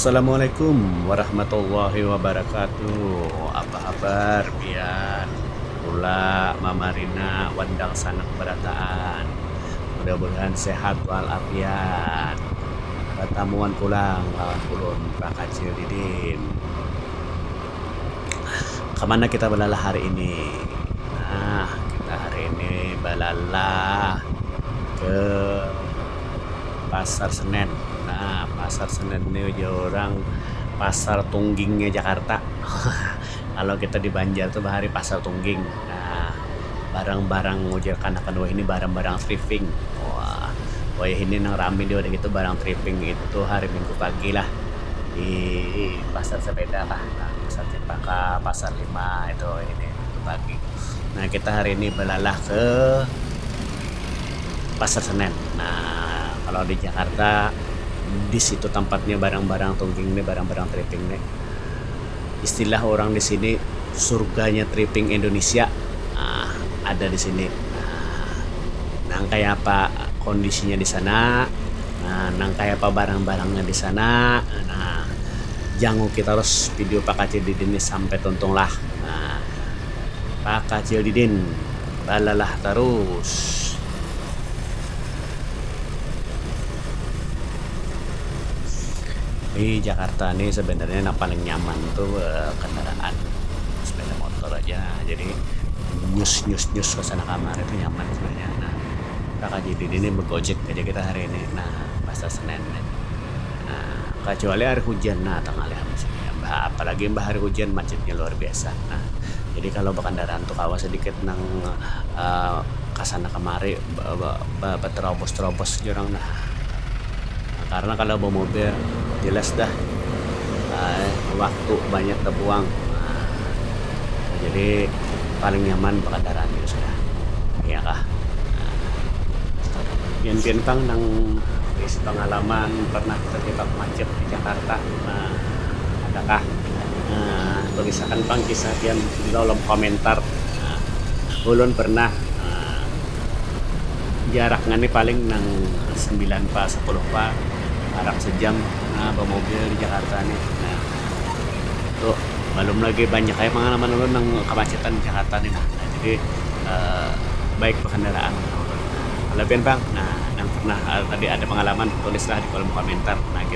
Assalamualaikum warahmatullahi wabarakatuh. Apa habar pian? Ula, mama Rina, wan dangsanak barataan. Mudah-mudahan sehat wal afiat. Batamuan pulang lawan ulun bakacil didin. Kamana kita balalah hari ini? Nah, kita hari ini balalah ke Pasar Senen. Nah, Pasar Senen ni ujar urang pasar tunggingnya Jakarta. Kalau kita di Banjar tu bahari Pasar Tungging. Nah, barang-barang ujar kanak kadua ini barang-barang trifing. Wah, wayah ini nang rami jua dah itu barang trifing itu hari minggu pagi lah di pasar sepeda kah, nah pasar cempaka, pasar lima itu hari minggu pagi. Nah, kita hari ini balalah ke pasar senen. Nah, kalau di Jakarta di situ tampatnya barang-barang tungging nih, barang-barang trifing nih. istilah orang di sini surganya tripping Indonesia um ada di sini um nang kaya apa kondisinya di sana um nang kaya apa barang-barangnya di sana um janguki tarus video Pak Kacil Didin ni sampai tuntung lah um Pak Kacil Didin balalah tarus. di Jakarta ini sebenarnya yang paling nyaman tuh eh, kendaraan sepeda motor aja jadi nyus nyus nyus ke sana kamar itu nyaman sebenarnya nah kakak jadi ini bergojek aja kita hari ini nah masa senin nih nah kecuali hari hujan nah tengah habis ini mbah apalagi mbah hari hujan macetnya luar biasa nah jadi kalau berkendaraan tuh kawa sedikit nang uh, eh, kasana kemari Baterobos terobos ja urang dah karna kalo bamobil jelas dah waktu banyak tabuang jadi paling nyaman bakandaraan biasa ja iya kah pian pian pang nang baisi pangalaman pernah terjebak macet di Jakarta adakah. Tulisakan pang kisah pian di kolom komentar. Ulun pernah jaraknya nih paling nang sembilan pa sapuluh pa parak sejam bamobil di Jakarta nih. Nah, tuh balum lagi banyak lagi pangalaman ulun nang kamacetan di Jakarta nih nah. Jadi, um baik bakandaraan lah ulun. Kalau pian bang, nah nang pernah tadi ada pangalaman tulislah di kolom komentar. Nah, gitu.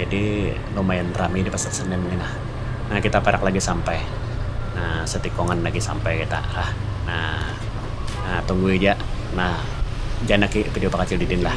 Jadi lumayan rami di pasar senen ni nah. Nah kita parak lagi sampai. Nah setikungan lagi sampai kita lah. Nah nah tunggui ja nah janaki video bakacil didin lah.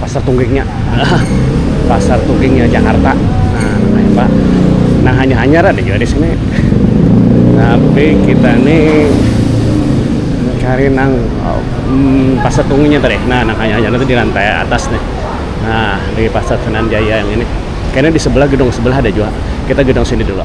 pasar tunggingnya pasar tunggingnya Jakarta nah namanya pak nah hanya hanyar ada juga di sini tapi kita nih cari nang hmm, pasar tunggingnya tadi nah nang hanya hanyar itu di lantai atas nih nah di pasar Senen Jaya yang ini kayaknya di sebelah gedung sebelah ada juga kita gedung sini dulu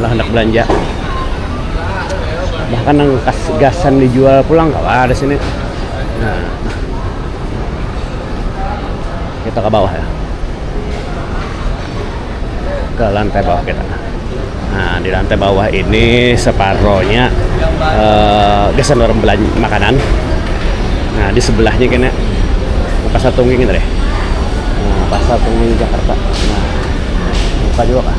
ulah handak belanja bahkan nang kas gasan dijual pulang kawa ada sini nah kita ke bawah ya ke lantai bawah kita nah di lantai bawah ini separohnya eh, gasan orang belanja makanan nah di sebelahnya kena pasar tungging itu deh nah, pasar tungging Jakarta nah buka juga kah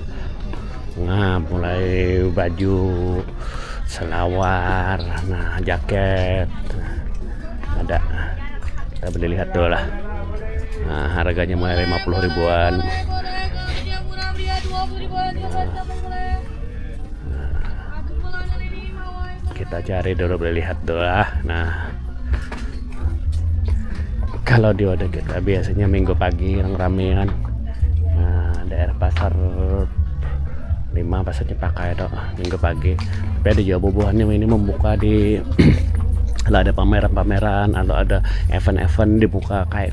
Nah, mulai baju, selawar, nah jaket. Nah, ada. Kita boleh lihat tuh lah. Nah, harganya mulai 50 ribuan. kita cari dulu boleh lihat dulu lah nah kalau di wadah kita biasanya minggu pagi yang ramean nah daerah pasar lima pasar dipakai itu minggu pagi tapi ada juga bubuhannya ini membuka di kalau ada pameran-pameran atau ada event-event dibuka kayak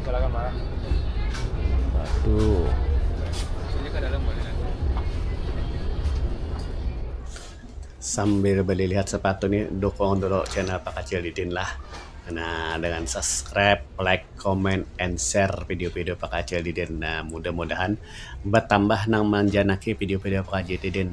Silakan Pak. Satu. Sini ke dalam boleh nanti. Sambil berlihat sepatu ni, dukung dulu channel Pak Kacil Didin lah. Nah, dengan subscribe, like, comment, and share video-video Pak Kacil Didin. Nah, mudah-mudahan bertambah nang manjanaki video-video Pak Kacil Didin.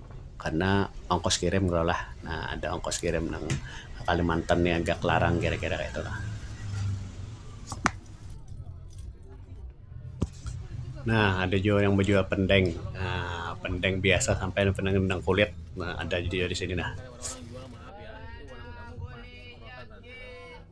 karna ongkos kirim kalo lah nah ada ongkos kirim nang ka kalimantan ni agak larang kira kira kaya itu lah. Nah ada jua yang bejual pendeng aaa pendeng biasa sampai nang pendeng nang kulit ada jua di sini nah.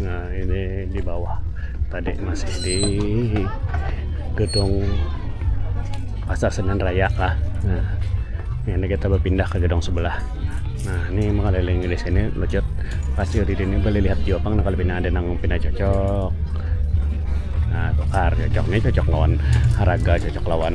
nah ini di bawah tadi masih di gedung pasar Senen Raya lah nah ini kita berpindah ke gedung sebelah nah ini mengelilingi di sini lejat pasti di sini boleh lihat jopang nah kalau pina ada nang pina cocok nah tukar cocok ini cocok lawan harga cocok lawan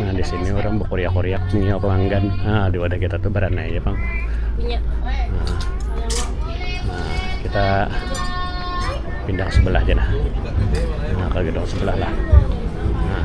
Nah di sini orang berkoriak-koriak nih pelanggan. Nah di wadah kita tuh berana ya bang. Nah, nah kita pindah ke sebelah aja nah. Nah ke gedung sebelah lah. Nah.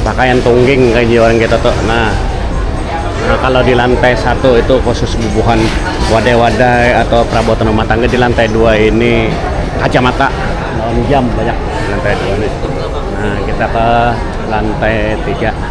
Pakaian tungging kaya di orang kita tu nah kalo di lantai satu itu khusus bubuhan wadai-wadai atau perabotan rumah tangga di lantai dua ini kacamata lawan jam banyak di lantai dua ni nah kita ke lantai tiga nah.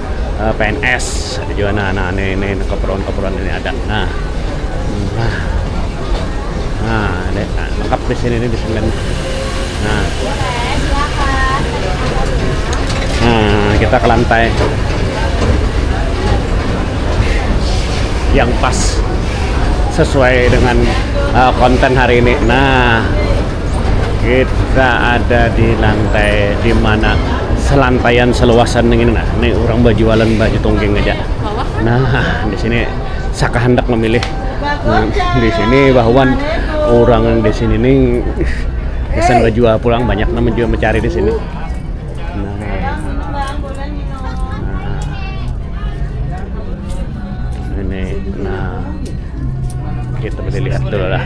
pns ada juga nah nah ini ini keperluan keperluan ini ada nah nah nah ada nah, lengkap di sini ini di sini nah nah kita ke lantai yang pas sesuai dengan uh, konten hari ini nah Kita ada di lantai di mana selantaian seluasan nang ini nah. Nih urang bajualan baju tungging haja. Nah, di sini sakahandak mamilih. Nah, di sini bahuan urang nang di sini nih gasan bajual pulang banyak nang jua mancari di sini. Nah, nah ini nah kita mesti lihat dulu lah.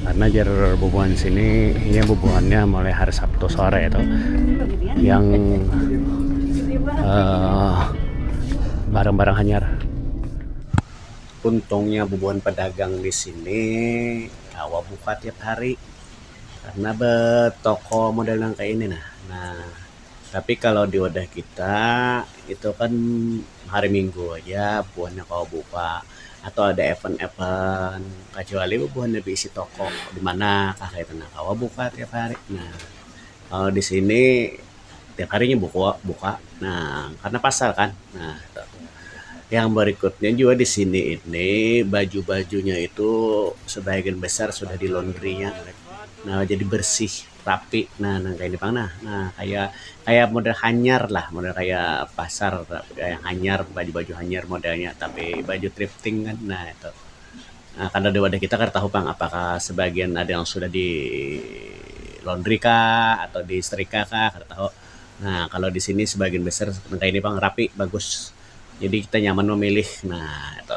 karena jar bubuhan sini ini bubuhannya mulai hari Sabtu sore itu yang eh, barang-barang uh, hanyar untungnya bubuhan pedagang di sini kawa buka tiap hari karena betoko model yang kayak ini nah nah Tapi kalau di wadah kita itu kan hari minggu haja buhannya kawa buka atau ada event-event kacuali buhannya beisi toko di mana kah kaytu nah kawa buka tiap hari. Nah, kalau di sini tiap hari nya buka buka nah karena pasar kan. Nah, yang berikutnya juga di sini ini baju-bajunya itu sebagian besar sudah di laundry-nya nah jadi bersih. rapi nah nang kaya ni pang nah nah kaya kaya model hanyar lah model kaya pasar kaya hanyar baju baju hanyar modelnya tapi baju trifting kan nah itu um kada di wadah kita kada tahu pang apakah sebagian ada yang sudah di laundry kah atau di setrika kah kada tahu nah kalau di sini sebagian besar nang kaya ni pang rapi bagus jadi kita nyaman memilih nah itu.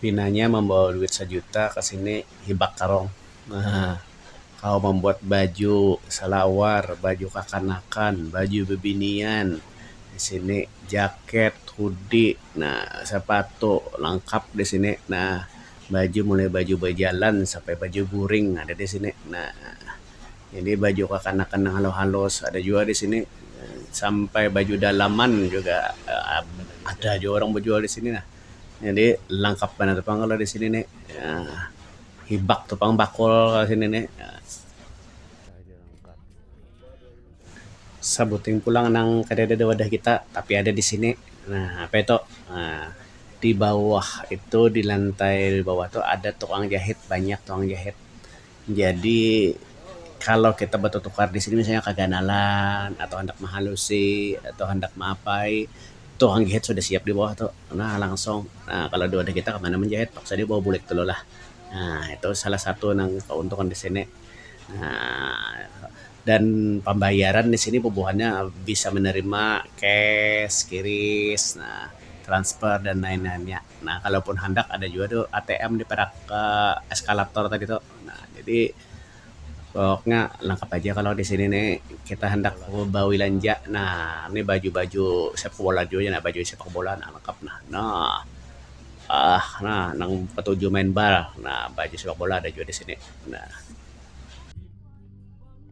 Pinanya mambawa duit sajuta ka sini hibak tarong. Nah, kawa mambuat baju salawar, baju kakanakan, baju bibinian di sini, jaket, hoodie, nah sapatu langkap di sini. Nah, baju mulai baju bajalan sampai baju guring ada di sini. Nah. Jadi baju kakanakan nang halus-halus ada jua di sini sampai baju dalaman juga ada jua orang bajual di sini lah. Jadi langkap banar tu pang kalau di sini ni Um hibak tu pang bakul kalau di sini ni sabuting pulang nang kadada di wadah kita tapi ada di sini Um apa itu Um di bawah itu di lantai bawah tu ada tukang jahit banyak tukang jahit. Jadi kalau kita batutukar di sini misalnya kaganalan atau handak mahalusi atau handak maapai tu orang gihit sudah siap di bawah tu nah langsung um kalau di wadah kita mana manjahit paksa dia bawa bulik dulu lah um itu salah satu nang kauntungan di sini um dan pambayaran di sini bubuhannya bisa menerima cash, qrish, transfer dan lain-lainnya. nah kalau pun handak ada jua tu ATM di parak eskalator tadi tu nah jadi poknya langkap aja kalau di sini ni kita handak bawilanja nah ni baju-baju sepak bola jua nya baju sepak bola nah langkap nah nah aah nah nang batuju main bal nah baju sepak bola ada jua di sini nah.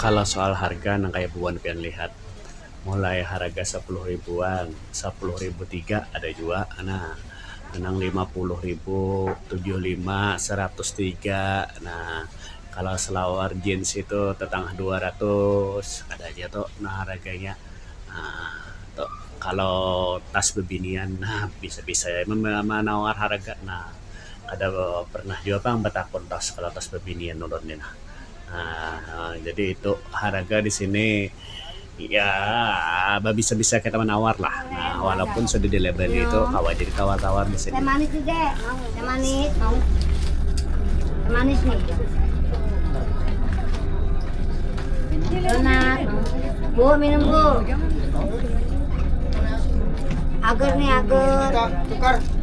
Kalo soal harga nang kaya buhan pian lihat, mulai haraga sapuluh ribuan, sapuluh ribu tiga ada jua nah, nang lima puluh ribu, tujuh lima, saratus tiga nah. Kalo salawar jeans itu tatangah dua ratus ada ja tu nah haraganya nah tu. Kalo tas bibinian nah bisa-bisa ja manawar haraga nah. kada pernah jua pang batakun tau sakalatas babinian ulun ni nah um jadi itu haraga di sini ya babisa-bisa kita manawar lah um walaupun sudah di labeli itu kawa ja ditawar-tawar di sini.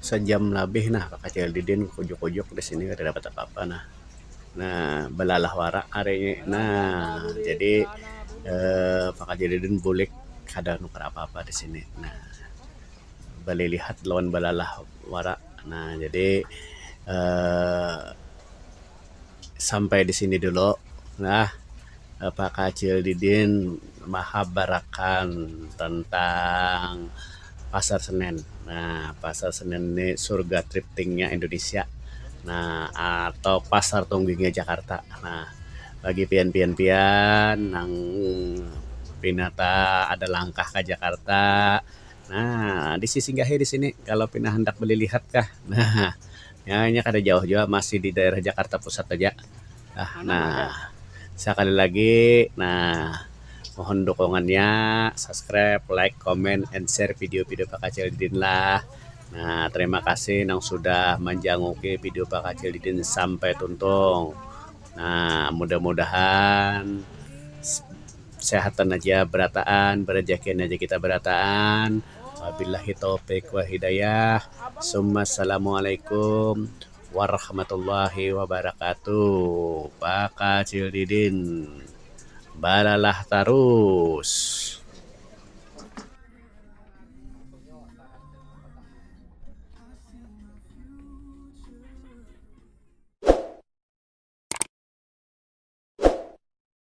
sajam labih nah bakacil didin bakujuk-kujuk disini kada dapat apa-apa nah, nah balalah wara hari ni nah jadi um bakacil didin bulik kada nukar apa-apa disini nah balilihat lawan balalah wara nah jadi um. sampai di sini dulu nah apa kacil didin mahabarakan tentang pasar senen nah pasar senen ni surga tripting nya indonesia nah atau pasar tungging nya jakarta nah bagi pian pian pian nang pina ta ada langkah ka jakarta nah bisi singgahi di sini kalau pina handak balilihat kah nah. Nya, inya kada jauh jua, masih di daerah Jakarta Pusat haja. Nah, sakali lagi, nah, mohon dukungannya, subscribe, like, comment, and share video-video Pak Kacil Didin lah. Nah, terima kasih nang sudah manjanguki video Pak Kacil Didin sampai tuntung. Nah, mudah-mudahan. Kesehatan aja berataan, berejekin aja kita berataan. Wabillahi taufiq wal hidayah. Summa Assalamualaikum warahmatullahi wabarakatuh. Bakacil Didin balalah tarus.